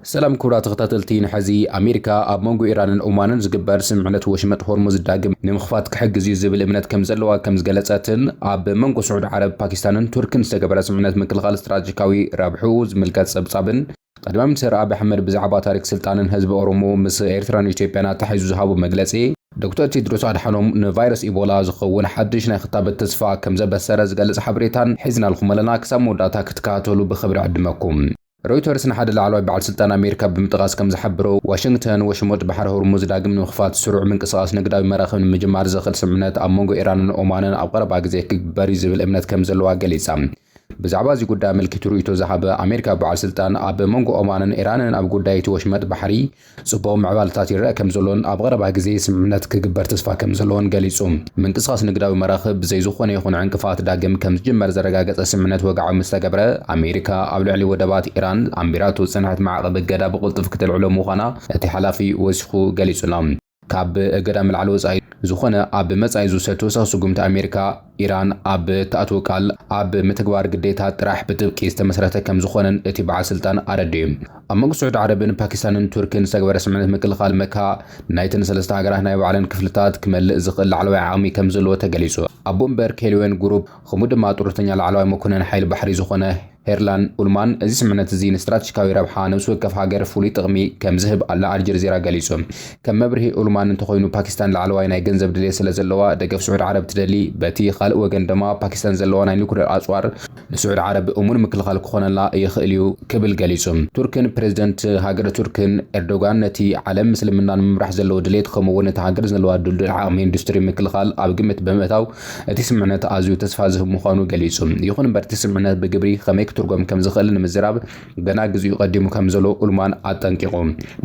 ሰላም ክቡራት ተኸታተልቲ ንሐዚ ኣሜሪካ ኣብ መንጎ ኢራንን ኦማንን ዝግበር ስምምዕነት ወሽመጥ ሆርሙዝ ዳግም ንምኽፋት ክሕግዝ እዩ ዝብል እምነት ከምዘለዋ ከምዝገለፀትን ኣብ መንጎ ስዑድ ዓረብ ፓኪስታንን ቱርክን ዝተገበረ ስምምዕነት ምክልኻል ስትራቴጂካዊ ረብሕኡ ዝምልከት ፀብፃብን ቀዳማይ ሚኒስትር ኣብይ ኣሕመድ ብዛዕባ ታሪክ ስልጣንን ህዝቢ ኦሮሞ ምስ ኤርትራን ኢትዮጵያን ኣተሓሒዙ ዝሃቦ መግለፂ ዶክተር ቴድሮስ ኣድሓኖም ንቫይረስ ኢቦላ ዝኸውን ሓድሽ ናይ ክታበት ተስፋ ከምዘበሰረ ዝገልፅ ሓበሬታን ሒዝናልኩም ኣለና ክሳብ መወዳእታ ክትከታተሉ ብኽብሪ ዕድመኩም። ሮይተርስ ንሓደ ላዕለዋይ በዓል ስልጣን ኣሜሪካ ብምጥቓስ ከም ዝሓበሮ፣ ዋሽንግተን ወሽሞጥ ባሕሪ ሆርሙዝ ዳግም ንምኽፋት ስሩዕ ምንቅስቓስ ንግዳዊ መራኽብ ንምጅማር ዘኽእል ስምምዕነት ኣብ መንጎ ኢራንን ኦማንን ኣብ ቀረባ ግዜ ክግበር እዩ ዝብል እምነት ከም ዘለዋ ገሊጻ። ብዛዕባ እዚ ጉዳይ ኣመልኪቱ ርእይቶ ዝሃበ ኣሜሪካዊ በዓል ስልጣን፣ ኣብ መንጎ ኦማንን ኢራንን ኣብ ጉዳይ እቲ ወሽመጥ ባሕሪ፣ ፅቡቕ ምዕባለታት ይረኣ ከምዘሎን ኣብ ቐረባ ግዜ ስምምዕነት ክግበር ተስፋ ከምዘለዎን ገሊፁ። ምንቅስቓስ ንግዳዊ መራኽብ ብዘይ ዝኾነ ይኹን ዕንቅፋት ዳግም ከምዝጅመር ዘረጋገፀ ስምምዕነት ወግዓዊ ምስተገብረ ኣሜሪካ ኣብ ልዕሊ ወደባት ኢራን ኣንቢራቶ ዝፀንሐት ማዕቐብ እገዳ ብቕልጡፍ ክተልዕሎ ምዃና እቲ ሓላፊ ወሲኹ ገሊፁ'ሎ። ካብ እገዳ ምልዓል ወጻኢ ዝኾነ ኣብ መጻኢ ዝውሰድ ተወሳኺ ስጉምቲ ኣሜሪካ፣ ኢራን ኣብ እትኣትዎ ቃል ኣብ ምትግባር ግዴታ ጥራሕ ብጥብቂ ዝተመስረተ ከምዝኾነን እቲ በዓል ስልጣን ኣረዲኡ። ኣብ መንጎ ስዑዲ ዓረብን ፓኪስታንን ቱርክን ዝተገበረ ስምምዕነት ምክልኻል መካ ናይተን ሰለስተ ሃገራት ናይ ባዕለን ክፍልታት ክመልእ ዝኽእል ላዕለዋይ ዓቕሚ ከምዘለዎ ተገሊጹ። ኣቦ ወንበር ኬልዌን ጉሩፕ፣ ከምኡ ድማ ጡረተኛ ላዕለዋይ መኮነን ሓይሊ ባሕሪ ዝኾነ ሄርላን ኡልማን እዚ ስምምዕነት እዚ ንስትራተጂካዊ ረብሓ ነብሲ ወከፍ ሃገር ፍሉይ ጥቕሚ ከም ዝህብ ኣል ኣልጀርዚራ ገሊጹ። ከም መብርሂ ኡልማን እንተኾይኑ ፓኪስታን ላዕለዋይ ናይ ገንዘብ ድሌት ስለ ዘለዋ ደገፍ ስዑድ ዓረብ ትደሊ፣ በቲ ካልእ ወገን ድማ ፓኪስታን ዘለዋ ናይ ኑክሌር ኣጽዋር ንስዑድ ዓረብ እሙን ምክልኻል ክኾነላ ይኽእል እዩ ክብል ገሊጹ። ቱርክን ፕረዚደንት ሃገረ ቱርክን ኤርዶጋን ነቲ ዓለም ምስልምና ንምምራሕ ዘለዎ ድሌት ከምኡ'ውን እታ ሃገር ዘለዋ ድልዱል ዓቕሚ ኢንዱስትሪ ምክልኻል ኣብ ግምት ብምእታው፣ እቲ ስምምዕነት ኣዝዩ ተስፋ ዝህብ ምዃኑ ገሊጹ። ይኹን እምበር እቲ ስምምዕነት ብግብሪ ኸመይ ክትርጎም ከም ዝኽእል ንምዝራብ ገና ግዜኡ ቀዲሙ ከም ዘሎ ኡልማን ኣጠንቂቑ።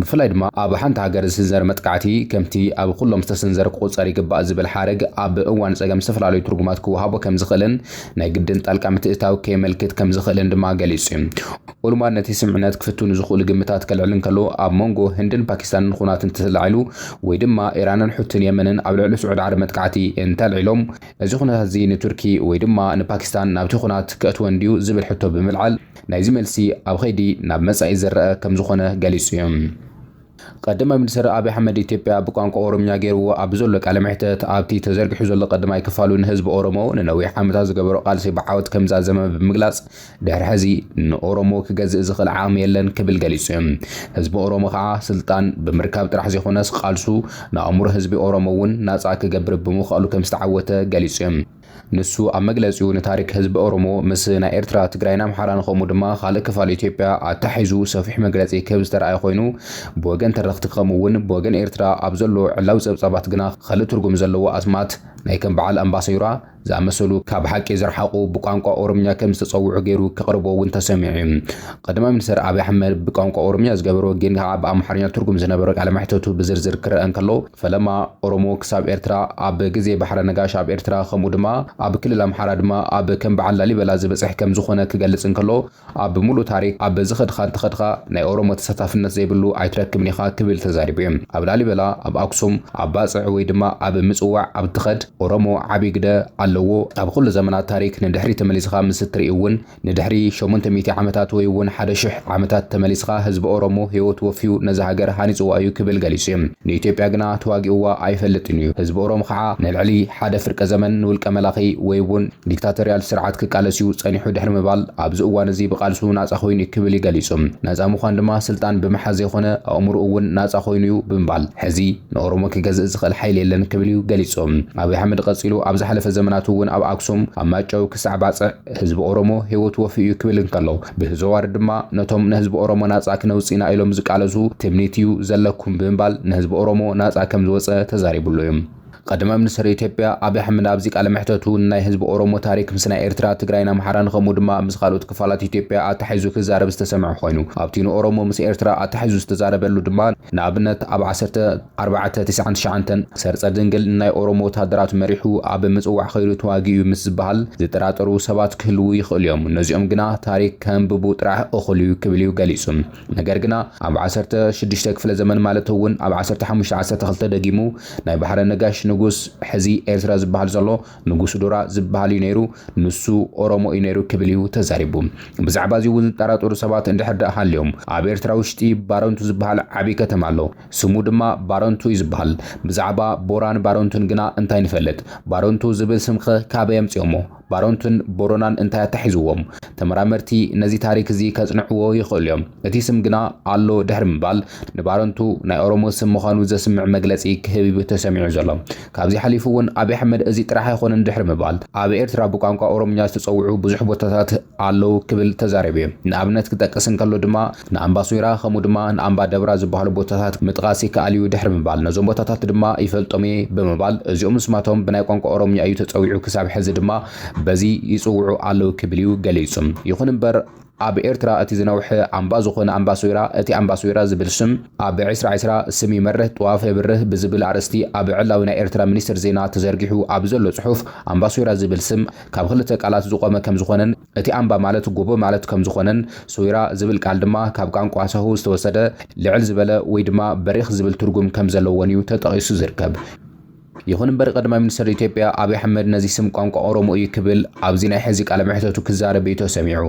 ብፍላይ ድማ ኣብ ሓንቲ ሃገር ዝስንዘር መጥቃዕቲ ከምቲ ኣብ ኹሎም ዝተሰንዘረ ክቑጸር ይግባእ ዝብል ሓረግ ኣብ እዋን ጸገም ዝተፈላለዩ ትርጉማት ክወሃቦ ከም ዝኽእልን ናይ ግድን ጣልቃ ምትእትታው ከየመልክት ከም ዝኽእልን ድማ ገሊጹ። ኡልማን ነቲ ስምምዕነት ክፍትኑ ዝኽእሉ ግምታት ከልዕል እንከሎ፣ ኣብ መንጎ ህንድን ፓኪስታንን ኹናት እንተተላዒሉ ወይ ድማ ኢራንን ሑቲን የመንን ኣብ ልዕሊ ስዑድ ዓረብ መጥቃዕቲ እንተልዒሎም፣ እዚ ኹነታት'ዚ ንቱርኪ ወይ ድማ ንፓኪስታን ናብቲ ኹናት ከእትወን ድዩ ዝብል ሕቶ ብምልዓል፣ ናይዚ መልሲ ኣብ ኸይዲ ናብ መጻኢ ዝረኣ ከምዝኾነ ገሊጹ'ዩ። ቀዳማይ ሚኒስትር ኣብይ ኣሕመድ ኢትዮጵያ ብቋንቋ ኦሮምኛ ገይርዎ ኣብ ዘሎ ቃለ መሕተት ኣብቲ ተዘርጊሑ ዘሎ ቀዳማይ ክፋሉ ንህዝቢ ኦሮሞ ንነዊሕ ዓመታት ዝገበሮ ቃልሲ ብዓወት ከምዛዘመ ብምግላፅ ድሕሪ ሕዚ ንኦሮሞ ክገዝእ ዝኽእል ዓቕሚ የለን ክብል ገሊፁ ዩ። ህዝቢ ኦሮሞ ከዓ ስልጣን ብምርካብ ጥራሕ ዘይኮነስ ቃልሱ ንኣእምሮ ህዝቢ ኦሮሞ ውን ናፃ ክገብር ብምኽኣሉ ከምዝተዓወተ ገሊፁ ዩ። ንሱ ኣብ መግለጺኡ ንታሪክ ህዝቢ ኦሮሞ ምስ ናይ ኤርትራ፣ ትግራይን ኣምሓራን ከምኡ ድማ ካልእ ክፋል ኢትዮጵያ ኣተሓሒዙ ሰፊሕ መግለጺ ክህብ ዝተርኣየ ኮይኑ ብወገን ተረኽቲ ከምኡ ውን ብወገን ኤርትራ ኣብ ዘሎ ዕላዊ ጸብጻባት ግና ኸልእ ትርጉም ዘለዎ ኣስማት ናይ ከም በዓል ኣምባሰዩራ ዝኣመሰሉ ካብ ሓቂ ዝረሓቑ ብቋንቋ ኦሮምኛ ከም ዝተጸውዑ ገይሩ ከቕርቦ ውን ተሰሚዑ ዩ። ቐዳማይ ሚኒስተር ኣብይ ኣሕመድ ብቋንቋ ኦሮምኛ ዝገበሮ ግን ከዓ ብኣምሓርኛ ትርጉም ዝነበሮ ቃለ መሕተቱ ብዝርዝር ክረኣ እንከሎ ፈለማ ኦሮሞ ክሳብ ኤርትራ ኣብ ግዜ ባሕረ ነጋሽ ኣብ ኤርትራ ከምኡ ድማ ኣብ ክልል ኣምሓራ ድማ ኣብ ከም በዓል ላሊበላ ዝበጽሕ ከም ዝኾነ ክገልጽ እንከሎ ኣብ ምሉእ ታሪክ ኣብ ዝኸድኻ እንተኸድኻ ናይ ኦሮሞ ተሳታፍነት ዘይብሉ ኣይትረክብን ኢኻ ክብል ተዛሪቡ እዩ ኣብ ላሊበላ ኣብ ኣክሱም ኣብ ባጽዕ ወይ ድማ ኣብ ምጽዋዕ ኣብ ትኸድ ኦሮሞ ዓቢ ግደ ኣለዎ ኣብ ኹሉ ዘመናት ታሪክ ንድሕሪት ተመሊስኻ ምስ እትርኢ እውን ንድሕሪ ሸሞንተ ሚእቲ ዓመታት ወይ እውን ሓደ ሽሕ ዓመታት ተመሊስኻ ህዝቢ ኦሮሞ ህይወቱ ወፍዩ ነዛ ሃገር ሃኒጽዋ እዩ ክብል ገሊጹ እዩ። ንኢትዮጵያ ግና ተዋጊኡዋ ኣይፈልጥን እዩ። ህዝቢ ኦሮሞ ኸዓ ንልዕሊ ሓደ ፍርቀ ዘመን ንውልቀ መላኺ ወይ እውን ዲክታቶርያል ስርዓት ክቃለስ እዩ ጸኒሑ ድሕሪ ምባል ኣብዚ እዋን እዚ ብቓልሱ ናጻ ኮይኑ እዩ ክብል እዩ ገሊጹ። ናጻ ምዃን ድማ ስልጣን ብምሓዝ ዘይኮነ ኣእምሩኡ እውን ናጻ ኮይኑ እዩ ብምባል ሕዚ ንኦሮሞ ክገዝእ ዝኽእል ሓይሊ የለን ክብል እዩ ገሊጹ። ኣብይ ኣሕመድ ቐጺሉ ኣብ ዝሓለፈ ዘመናት እውን ኣብ ኣክሱም፣ ኣብ ማይጨው ክሳዕ ባጽዕ፣ ህዝቢ ኦሮሞ ህይወቱ ወፍዩ እዩ ክብል እንከሎ ብህዘዋሪ ድማ ነቶም ንህዝቢ ኦሮሞ ናጻ ክነውጽእ ኢና ኢሎም ዝቃለሱ ትምኒት እዩ ዘለኩም ብምባል ንህዝቢ ኦሮሞ ናጻ ከም ዝወጸ ተዛሪብሉ እዩ። ቀዳማይ ሚኒስተር ኢትዮጵያ ኣብይ ኣሕመድ ኣብዚ ቃለ መሕተቱ ንናይ ህዝቢ ኦሮሞ ታሪክ ምስ ናይ ኤርትራ፣ ትግራይን ኣምሓራን ከምኡ ድማ ምስ ካልኦት ክፋላት ኢትዮጵያ ኣተሓሒዙ ክዛረብ ዝተሰምዐ ኮይኑ ኣብቲ ንኦሮሞ ምስ ኤርትራ ኣተሓሒዙ ዝተዛረበሉ ድማ ንኣብነት ኣብ ዓሰርተ ኣርባዕተ ትስዓን ትሽዓንተን ሰርጸ ድንግል ናይ ኦሮሞ ወተሃደራት መሪሑ ኣብ ምጽዋዕ ከይዱ ተዋጊኡ ምስ ዝበሃል ዝጠራጠሩ ሰባት ክህልዉ ይኽእሉ እዮም ነዚኦም ግና ታሪክ ከንብቡ ጥራሕ እኹል እዩ ክብል እዩ ገሊጹ ነገር ግና ኣብ ዓሰርተ ሽዱሽተ ክፍለ ዘመን ማለት እውን ኣብ ዓሰርተ ሓሙሽተ ዓሰርተ ክልተ ደጊሙ ናይ ባሕረ ነጋሽ ንጉስ ሕዚ ኤርትራ ዝበሃል ዘሎ ንጉስ ዶራ ዝብሃል እዩ ነይሩ፣ ንሱ ኦሮሞ እዩ ነይሩ ክብል እዩ ተዛሪቡ። ብዛዕባ እዚ እውን ዝጠራጠሩ ሰባት እንድሕር ደኣ ሃልዮም፣ ኣብ ኤርትራ ውሽጢ ባረንቱ ዝብሃል ዓቢ ከተማ ኣሎ። ስሙ ድማ ባረንቱ እዩ ዝብሃል። ብዛዕባ ቦራን ባረንቱን ግና እንታይ ንፈልጥ? ባረንቱ ዝብል ስም'ኸ ካበይ ኣምጺኦሞ? ባረንቱን ቦረናን እንታይ ኣተሓሒዝዎም? ተመራመርቲ ነዚ ታሪክ እዚ ከጽንዕዎ ይኽእሉ እዮም። እቲ ስም ግና ኣሎ ድሕሪ ምባል፣ ንባረንቱ ናይ ኦሮሞ ስም ምዃኑ ዘስምዕ መግለጺ ክህብ'ዩ ተሰሚዑ ዘሎ። ካብዚ ሓሊፉ እውን ኣብይ ኣሕመድ እዚ ጥራሕ ኣይኾነን ድሕሪ ምባል ኣብ ኤርትራ ብቋንቋ ኦሮምኛ ዝተጸውዑ ብዙሕ ቦታታት ኣለው ክብል ተዛሪቡ እዩ። ንኣብነት ክጠቅስ እንከሎ ድማ ንኣምባ ሶይራ ከምኡ ድማ ንኣምባ ደብራ ዝበሃሉ ቦታታት ምጥቓስ ይከኣል እዩ ድሕሪ ምባል ነዞም ቦታታት ድማ ይፈልጦም እየ ብምባል እዚኦም ምስማቶም ብናይ ቋንቋ ኦሮምኛ እዩ ተጸዊዑ ክሳብ ሕዚ ድማ በዚ ይጽውዑ ኣለው ክብል እዩ ገሊጹ። ይኹን እምበር ኣብ ኤርትራ እቲ ዝነውሐ ኣምባ ዝኾነ ኣምባሶይራ፣ እቲ ኣምባሶይራ ዝብል ሽም ኣብ ዕስራ ዕስራ፣ ስም ይመርህ ጥዋፍ የብርህ ብዝብል ኣርእስቲ ኣብ ዕላዊ ናይ ኤርትራ ሚኒስትር ዜና ተዘርጊሑ ኣብ ዘሎ ጽሑፍ ኣምባሶይራ ዝብል ስም ካብ ክልተ ቃላት ዝቖመ ከምዝኾነን እቲ ኣምባ ማለት ጎቦ ማለት ከምዝኾነን ሶይራ ዝብል ቃል ድማ ካብ ቋንቋ ሳሆ ዝተወሰደ ልዕል ዝበለ ወይ ድማ በሪኽ ዝብል ትርጉም ከምዘለዎንዩ ተጠቒሱ ዝርከብ። ይኹን እምበር ቀዳማይ ሚኒስተር ኢትዮጵያ ኣብይ ኣሕመድ ነዚ ስም ቋንቋ ኦሮሞ እዩ ክብል ኣብዚ ናይ ሕዚ ቃለ መሕተቱ ክዛረብ እዩ ተሰሚዑ።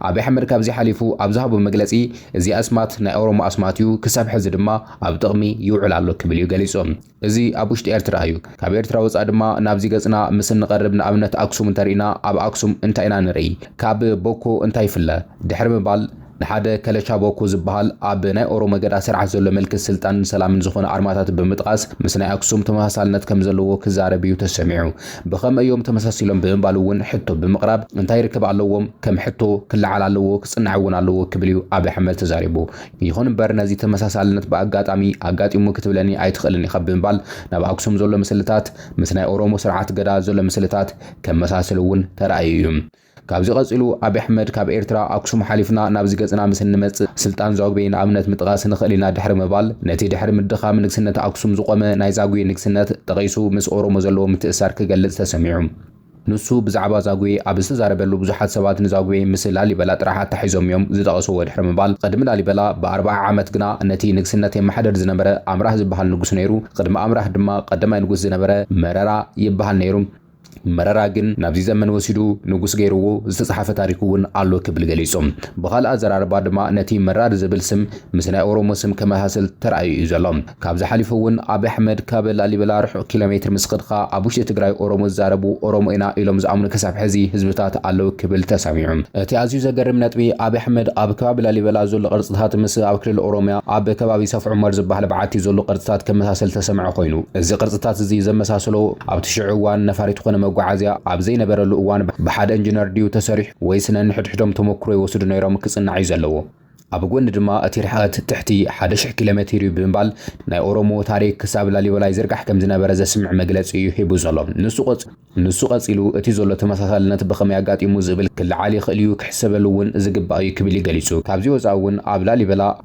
ኣብይ ኣሕመድ ካብዚ ሓሊፉ ኣብ ዝሃቦ መግለጺ እዚ ኣስማት ናይ ኦሮሞ ኣስማት እዩ፣ ክሳብ ሕዚ ድማ ኣብ ጥቕሚ ይውዕል ኣሎ ክብል እዩ ገሊጹ። እዚ ኣብ ውሽጢ ኤርትራ እዩ። ካብ ኤርትራ ወጻኢ ድማ ናብዚ ገጽና ምስ እንቐርብ ንኣብነት ኣክሱም እንተሪእና ኣብ ኣክሱም እንታይ ኢና ንርኢ? ካብ ቦኮ እንታይ ይፍለ? ድሕሪ ምባል፣ ንሓደ ከለቻቦኩ ዝበሃል ኣብ ናይ ኦሮሞ ገዳ ስርዓት ዘሎ ምልክት ስልጣንን ሰላምን ዝኾነ ኣርማታት ብምጥቓስ ምስ ናይ ኣክሱም ተመሳሳልነት ከም ዘለዎ ክዛረብ እዩ ተሰሚዑ። ብኸመይ እዮም ተመሳሲሎም ብምባል እውን ሕቶ ብምቕራብ እንታይ ርክብ ኣለዎም ከም ሕቶ ክለዓል ኣለዎ ክፅናዕ እውን ኣለዎ ክብል እዩ ኣብይ ኣሕመድ ተዛሪቡ። ይኹን እምበር ነዚ ተመሳሳልነት ብኣጋጣሚ ኣጋጢሙ ክትብለኒ ኣይትኽእልን ኢኻ ብምባል ናብ ኣክሱም ዘሎ ምስልታት ምስ ናይ ኦሮሞ ስርዓት ገዳ ዘሎ ምስልታት ከመሳስል እውን ተራእዩ እዩ። ካብዚ ቀጺሉ ኣቢ ኣሕመድ ካብ ኤርትራ ኣክሱም ሓሊፍና ናብዚ ገጽና ምስ እንመጽእ ስልጣን ዛጉቤ ንኣብነት ምጥቓስ ንኽእል ኢና ድሕሪ ምባል ነቲ ድሕሪ ምድኻም ንግስነት ኣክሱም ዝቖመ ናይ ዛጉዌ ንግስነት ጠቒሱ ምስ ኦሮሞ ዘለዎ ምትእስሳር ክገልጽ ተሰሚዑ። ንሱ ብዛዕባ ዛጉዌ ኣብ ዝተዛረበሉ ብዙሓት ሰባት ንዛጉዌ ምስ ላሊበላ ጥራሕ ኣተሓሒዞም እዮም ዝጠቐስዎ ድሕሪ ምባል ቕድሚ ላሊበላ ብ ኣርብዓ ዓመት ግና ነቲ ንግስነት የመሓደር ዝነበረ ኣምራህ ዝብሃል ንጉስ ነይሩ ቕድሚ ኣምራህ ድማ ቐዳማይ ንጉስ ዝነበረ መረራ ይብሃል ነይሩ መረራ ግን ናብዚ ዘመን ወሲዱ ንጉስ ገይርዎ ዝተጽሓፈ ታሪክ እውን ኣሎ ክብል ገሊጹ። ብኻልእ ኣዘራርባ ድማ ነቲ መራር ዝብል ስም ምስ ናይ ኦሮሞ ስም ከመሳስል ተራእዩ እዩ ዘሎ። ካብዚ ሓሊፉ እውን ኣብይ ኣሕመድ ካብ ላሊበላ ርሑቕ ኪሎሜትር ምስ ከድካ ኣብ ውሽጢ ትግራይ ኦሮሞ ዝዛረቡ ኦሮሞ ኢና ኢሎም ዝኣምኑ ክሳብ ሕዚ ህዝብታት ኣለው ክብል ተሰሚዑ። እቲ ኣዝዩ ዘገርም ነጥቢ ኣብይ ኣሕመድ ኣብ ከባቢ ላሊበላ ዘሎ ቅርጽታት ምስ ኣብ ክልል ኦሮምያ ኣብ ከባቢ ሰፍ ዑመር ዝበሃል በዓቲ ዘሎ ቅርጽታት ከመሳስል ተሰምዐ ኮይኑ እዚ ቅርጽታት እዚ ዘመሳስሎ ኣብቲ ሽዑ እዋን ነፋሪት ኾነ መጓዓዝያ ኣብ ዘይነበረሉ እዋን ብሓደ እንጅነር ድዩ ተሰሪሑ ወይስ ነንሕድሕዶም ተሞክሮ ይወስዱ ነይሮም ክፅናዕ እዩ ዘለዎ። ኣብ ጎኒ ድማ እቲ ርሕቐት ትሕቲ ሓደ ሽሕ ኪሎሜትር እዩ ብምባል ናይ ኦሮሞ ታሪክ ክሳብ ላሊበላ ይዝርጋሕ ከምዝነበረ ዘስምዕ መግለፂ እዩ ሂቡ ዘሎ። ንሱ ቀፂሉ እቲ ዘሎ ተመሳሳልነት ብኸመይ ኣጋጢሙ ዝብል ክለዓል ይኽእል እዩ ክሕሰበሉ እውን ዝግባእ እዩ ክብል እዩ ገሊፁ። ካብዚ ወፃኢ እውን ኣብ ላሊበላ፣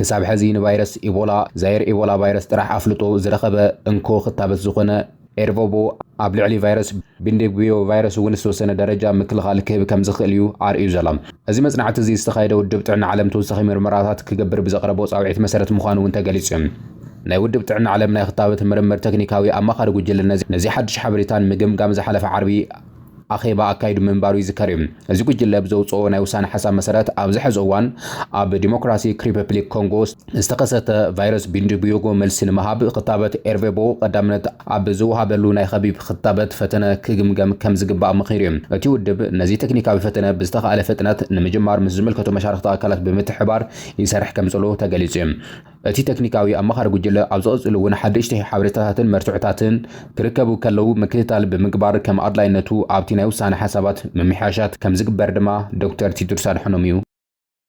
ክሳብ ሐዚ ንቫይረስ ኢቦላ፣ ዛየር ኢቦላ ቫይረስ ጥራሕ ኣፍልጦ ዝረኸበ እንኮ ክታበት ዝኾነ ኤርቮቦ ኣብ ልዕሊ ቫይረስ ቢንዲቡዮ ቫይረስ እውን ዝተወሰነ ደረጃ ምክልኻል ክህብ ከምዝኽእል እዩ ኣርእዩ ዘሎ። እዚ መፅናዕቲ እዚ ዝተኻየደ ውድብ ጥዕና ዓለም ተወሳኺ ምርመራታት ክገብር ብዘቕረቦ ፃውዒት መሰረት ምዃኑ እውን ተገሊፁ እዩ። ናይ ውድብ ጥዕና ዓለም ናይ ክታበት ምርምር ተክኒካዊ ኣማኻሪ ጉጅለ ነዚ ሓዱሽ ሓበሬታን ምግምጋም ዝሓለፈ ዓርቢ ኣኼባ ኣካይዱ ምንባሩ ይዝከር እዩ። እዚ ጉጅለ ብዘውጽኦ ናይ ውሳነ ሓሳብ መሰረት ኣብዚ ሐዚ እዋን ኣብ ዲሞክራሲክ ሪፐፕሊክ ኮንጎ ዝተኸሰተ ቫይረስ ቢንዲቡዮጎ መልሲ ንምሃብ ኽታበት ኤርቬቦ ቐዳምነት ኣብ ዝወሃበሉ ናይ ኸቢብ ኽታበት ፈተነ ክግምገም ከምዝግባእ መኺሩ እዩ። እቲ ውድብ ነዚ ተክኒካዊ ፈተነ ብዝተኻእለ ፍጥነት ንምጅማር ምስ ዝምልከቶ መሻርኽቲ ኣካላት ብምትሕብባር ይሰርሕ ከምዘሎ ተገሊጹ እዩ። እቲ ተክኒካዊ ኣማኻሪ ጉጅለ ኣብ ዝቕጽሉ እውን ሓደሽቲ ሓበሬታታትን መርትዖታትን ክርከቡ ከለው ምክትታል ብምግባር ከም ኣድላይነቱ ኣብቲ ናይ ውሳነ ሓሳባት ምምሕያሻት ከምዝግበር ድማ ዶክተር ቲድሮስ ኣድሓኖም እዩ